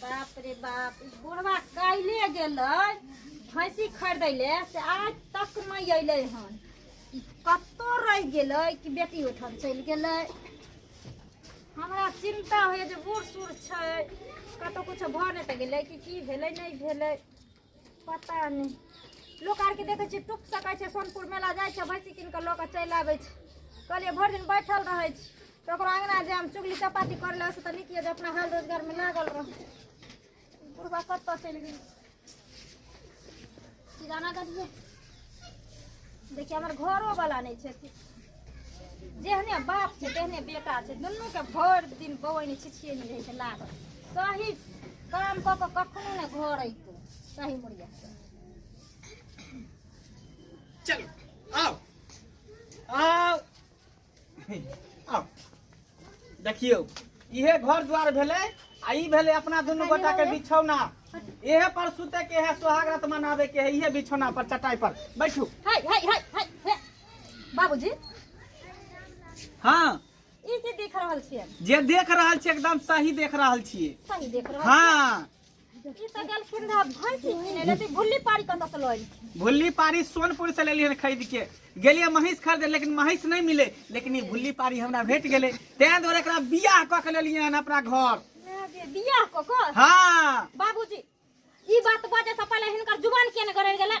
बाप रे बाप ई बुढ़वा काल्हिए गेलै भैंसी खरीदै ले से आज तक नहि अयलै हन ई कतौ रहि गेलै कि बेटी ओहिठाम चलि गेलै हमरा चिन्ता होइए जे बूढ़ सूढ़ छै कतौ किछो भऽ नहि तऽ गेलै कि की भेलै नहि भेलै पता नहि लोक आरके देखै छियै टुक सकै छै सोनपुर मेला जाइ छै भैंसी कीन कऽ लऽ कऽ चलि आबै छै कहलियै भरि दिन बैठल रहै छी तऽ ओकरो अङ्गना जे हम चुगली चपाती कर ले तऽ नीक यए जे अपना हाल रोजगारमे लागल रह बुढ़बा कतऽ चलि गेल किराना गाड़ी देखिए हमर घरो वाला नहीं छे जेहने बाप छे तेहने बेटा छे दुनू के भर दिन बौन छिछिए में रहे लागल सही काम क के कखनो ने घर अइतो सही मुड़िया चलो आओ आओ देखियौ इहे घर द्वार भेलै आ ई भेलै अपना दुनू गोटा के बिछौना इहे पर सुते के है सोहाग रात मनावे के है इहे बिछौना पर चटाई पर बैठू हाय हाय हाय हाय हे। बाबूजी हाँ ई की देख रहल छियै जे देख रहल छी एकदम सही देख रहल छियै सही देख रहल हाँ ई तऽ गेलखिन रहा भैंस किने ले तऽ भुल्ली पारी कतऽ से लऽ एलखिन भुल्ली पारी सोनपुर से लेलियै हन खरीद के गेलियै महींस खरीदे लेकिन महींस नहि मिले लेकिन ई भुल्ली पारी हमरा भेट गेलै तें दुआरे एकरा बियाह कऽ के लेलियै हन अपना घर माय गे, बियाह कऽ कऽ हँ बाबूजी ई बात बजे से पहिले हिनकर जुबान किया ने गड़ल गेलै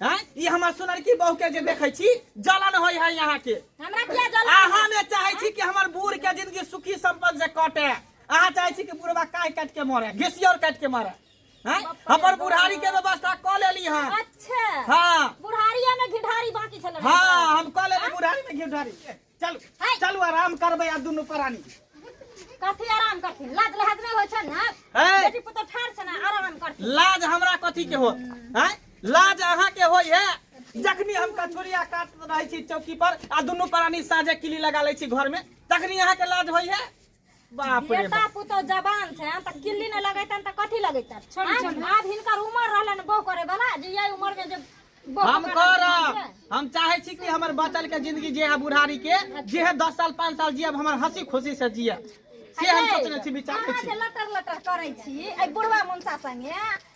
हैं ई हमर सुनरकी बहू के जे देखै छी जलन होय है यहाँ के हमरा किया जलन अहाँ ने चाहे छी कि हमर बूढ़ के जिंदगी सुखी संपन्न से कटे अहाँ चाहे छी कि बुढ़वा काय काट के मरे घिसियर काट के मरे हैं हमर बुढ़ारी के व्यवस्था क लेली हां अच्छा हां बुढ़ारिया में घिढारी बाकी छल हां हम क लेली बुढ़ारी में घिढारी चलू है। चलू आराम करबै आब दुनू प्राणी कथी आराम करथिन लाज लहज नहि होइ छै ने है बेटी पुतहु ठाढ़ छै ने आराम करथिन लाज हमरा कथी के हो हैं लाज अहाँ के होय है जखनी हम कछुरिया काट रहे छी चौकी पर आ दुनू प्राणी साझे किली लगा ले छी घर में तखनी अहाँ के लाज होय है बाप रे बेटा पुतौ जवान छै तऽ किल्ली नहि लगैतन तऽ कथी लगैतन छोड़ी छोड़ी आब हिनकर उम्र रहलन बौ करे वाला जे यही उम्र में जे बौ हम करे कर वाला छै। हम चाहे छी कि हमर बचल के जिंदगी जे है बुढ़ारी के जे है दस साल पाँच साल जियब हमर हंसी खुशी से जियब से हम सोचने छी विचार अहाँ छी जे लटर लटर करै छी एहि बुढ़वा मुंसा संगे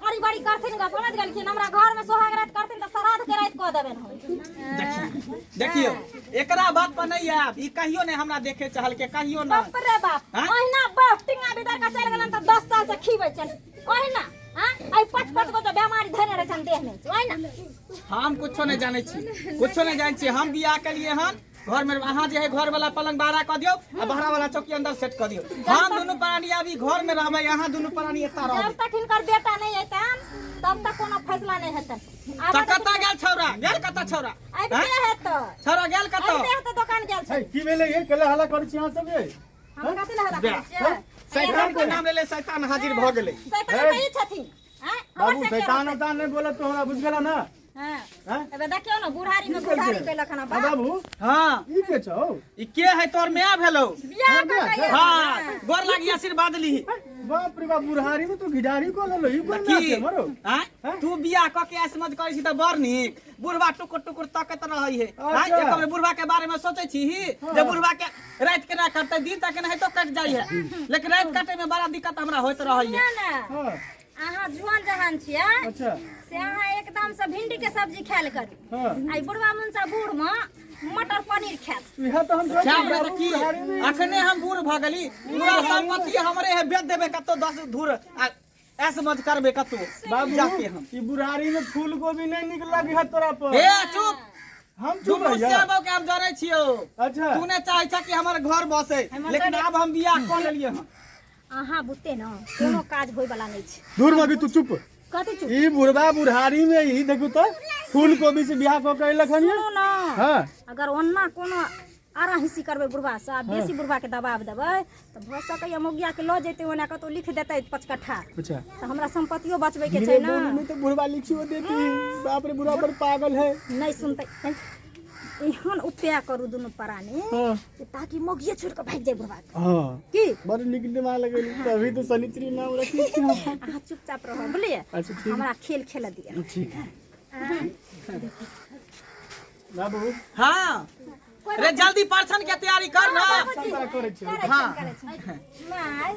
बड़ी बड़ी करथिन ग समझ गेलखिन हमरा घर में सोहाग रात करथिन त श्राद्ध के रात क देबेन हम देखियो एकरा बात पर नहीं आब ई कहियो नहीं हमरा देखे चहल के कहियो ना बाप रे बाप हाँ? ओहिना बाप टिंगा भीतर का चल गेलन त 10 साल से खीबै छन ओहिना हां आई पाँच पाँच गो त बेमारी धरे रहै छन देह में ओहिना हम कुछो नहीं जाने छी कुछो नहीं जाने छी हम बियाह कलिए हन घर में अहाँ जे है घर वाला पलंग बाहर क दियो आ बाहर वाला चौकी अंदर सेट क दियो हम दोनों प्राणी अभी घर में रहबे अहाँ दोनों प्राणी एता जब रहबे तक हिनकर बेटा नहीं हेतन तब तक कोनो फैसला नहीं हेतन आब त कता गेल छौरा गेल कता छौरा आबि हैं? के हेत छौरा गेल आबि कता के हेत दोकान गेल छै की भेलै ये केला हल्ला करै छी अहाँ सब ये हम कथि लए हल्ला करै छियै शैतान के नाम लेले शैतान हाजिर भ गेलै शैतान तऽ ई छथिन हैं? हमर बाबू से के शैतान रहतै? उतान नहि बोलत तो हमरा बुझ गेला ना एबे देखियो ना बुढ़ारी में बुढ़ारी कैलक हन बा बाबू हाँ ई के छौ ई के है तोर माय भेलो बियाह कर कहिया हाँ गोर लागी आशीर्वाद ली बाप रे बाप बुढ़ारी में तो घिडारी को ललो ई कोन नाच है मरो हाँ? तू बियाह क के ऐसे मत करै छी त बड़ नीक बुढ़वा टुकुर टुकुर तकत रहै है हाँ, अच्छा। एक बेर बुढ़वा के बारे में सोचै छी ही जे बुढ़वा के रात के ना कटते दिन तक ना है तो कट जाइ है लेकिन रात कटे में बड़ा दिक्कत हमरा होइत रहै है ना ना हाँ अहाँ जुआन जहान छियै अच्छा से अहाँ एकदम से भिंडी के सब्जी खायल करी हाँ। आई बुढ़वा मुंसा बूढ़ में मटर पनीर खायत इहे तऽ हम क्या हमरा तऽ की अखने हम बूढ़ भऽ गेली पूरा संपत्ति हमरे है बेच देबे कतौ दस धूर आ ऐस मत करबे कतौ बाबू जाके हम ई बुढ़ारी में फूल गोभी नहीं निक लगे है तोरा पर हे चुप हम चुप दुनू रहिया श्यामो के हम जानै छियो अच्छा तू ने चाहै छ कि हमर घर बसे लेकिन आब हम बियाह कऽ लेलियै हँ अहाँ बुते न कोनो काज होय वाला नहीं छै दूर मगी तू चुप कथी चुप ई बुढ़वा बुढ़ारी में ई देखू तो फूल कोबी से बियाह कऽ के अयलक हन सुनू न हाँ अगर ओना कोनो आरा हिस्सी करबै बुढ़वा से आ बेसी बुढ़वा के दबाव देबै तऽ भऽ सकैया मोगिया के लऽ जेतै ओना कतौ लिख देतै पाँच कट्ठा अच्छा तऽ हमरा संपत्तियो बचबै के धीरे छै बोली न में तो बुढ़वा लिखियो देती बाप रे बुढ़वा बड़ पागल है नहीं सुनतै एहन उपाय करू दुनू प्राणी हाँ कि ताकि मोगिए छोड़ के भाग जाए बुढ़वा के। हाँ की बड़ निक दिमाग लगे तभी तो सनित्री नाम रखी अहाँ चुपचाप रहो बुझलिए अच्छा ठीक हमरा खेल खेल दिया ठीक बाबू हाँ रे जल्दी परछन के तैयारी कर ना करे छी हाँ माय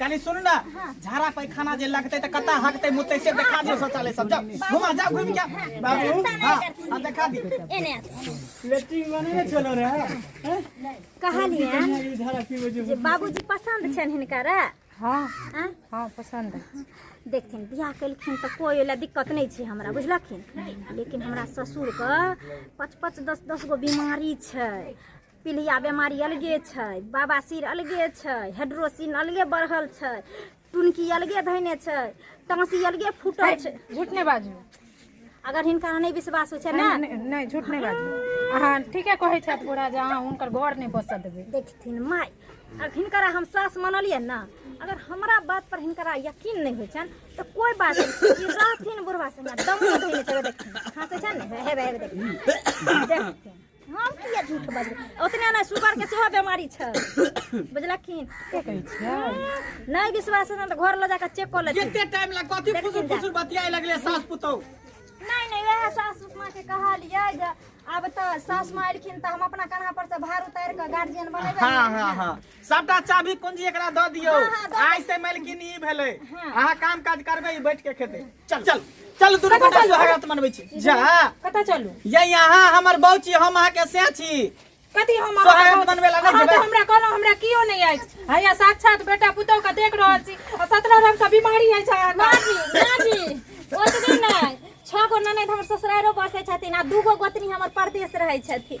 कनी सुन ना झाड़ा पैखाना जे लगते त कता हकते मुते से देखा दियो शौचालय सब जाओ घुमा जाओ घुम के बाबू हां हां देखा दी एने लेटिंग बने ने चलो रे हैं? कहलिए ई झाड़ा की वजह जे बाबूजी पसंद छन हिनका रे हाँ हाँ? हाँ पसंद है देखथिन बियाह केलखिन तऽ कोइ ओहि लए दिक्कत नहि छै हमरा बुझलखिन लेकिन हमरा ससुरके पाँच पाँच दस दस गो बीमारी छै पीलिया बीमारी अलगे छै बाबा सिर अलगे छै हेड्रोसिन अलगे बढ़ल छै टुनकी अलगे धैने छै टाँसी अलगे फूटल छै झूठ नहि बाजू अगर हिनका नहि विश्वास होइ छै ने नहि झूठ नहि बाजू अहाँ ठीके कहै छथि पूरा जे अहाँ हुनकर घर नहि बसऽ देबै देखथिन माय अगर हिनकरा हम सास मानलियै ने अगर हमरा बात पर हिनकरा यकीन नहि होइ छनि तऽ कोइ बात नहि रहथिन बुढ़वा संगे दमो धैने छै देखथिन हँसै छै ने हेबे हेबे देखथिन देखथिन हम किए झूठ बजबै ओतने नहि सुगरके सेहो बेमारी छै बुझलखिन के कहै छियै नहि विश्वास हेतनि तऽ घर लऽ जाकऽ चेक कऽ लेथिन कते टाइम लग कथी देखिन फुसुर जा। फुसुर बतियाए लगले सास पुतौ नहि नहि वएह सासु माँ के कहलियै जे आब तऽ सास माँ एलखिन तऽ हम अपना कान्हा पर से भार उतारि कऽ गार्जियन बनेबै हाँ ने। हाँ हाँ सबटा चाभी कुंजी एकरा दऽ दियौ हाँ, हाँ, दऽ आइ से मलकिन ई भेलै हाँ। अहाँ काम काज करबै ई बैठ के खेतै चल चल चल दुनू कतऽ गोटा चलू? सुहागरात मनबै छी जा कतऽ चलू ये यहाँ हमर बहू छी हम अहाँके से छी कथी हम सोहागत अहाँके- बनबै ला नहि अहाँ जेबै? तऽ हमरा कहलहुँ हमरा कियो नहि अछि हैया साक्षात बेटा पुतहु के देख रहल छी आ सत्रह रंग के बीमारी अछि अहाँके माजी माजी ओतबे नहि छओ गो ननद हमर ससुरारो बसै छथिन आ दूगो गोतनी हमर परदेश रहै छथिन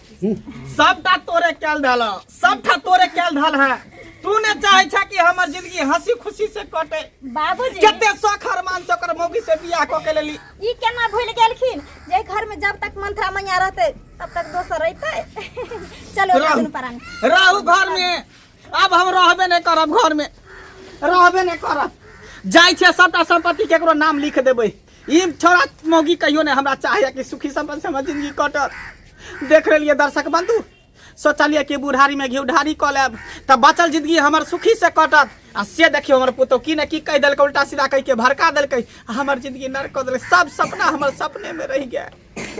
सबटा तोरे कैल धल सबटा तोरे कैल धल है तू ने चाहे छा कि हमर जिंदगी हंसी खुशी से कटे बाबूजी कते शौक हरमान से ओकर मौगी से बियाह क के लेली ई केना भूल गेलखिन जे घर में जब तक मंत्रा मैया रहते तब तक दोसर रहते चलो रहू। राजन परान रहू घर में अब हम रहबे नहीं करब घर में रहबे नहीं करब जाइ छै सबटा संपत्ति केकरो नाम लिख देबै ई छोरा मौगी कहियो ने हमरा चाहे कि सुखी संपन्न से हमर जिंदगी कटत देख रहिए दर्शक बंधु सोचलिए कि बुढ़ारी में घी ढारी कऽ लेब तऽ बचल जिंदगी हमर सुखी से कटत आ से देखियो हमर पुतौ की ने की कहि देलकै उल्टा सीधा कहि के भड़का देलकै आ हमर जिंदगी नरक कऽ देलकै सब सपना हमर सपने में रहि गेल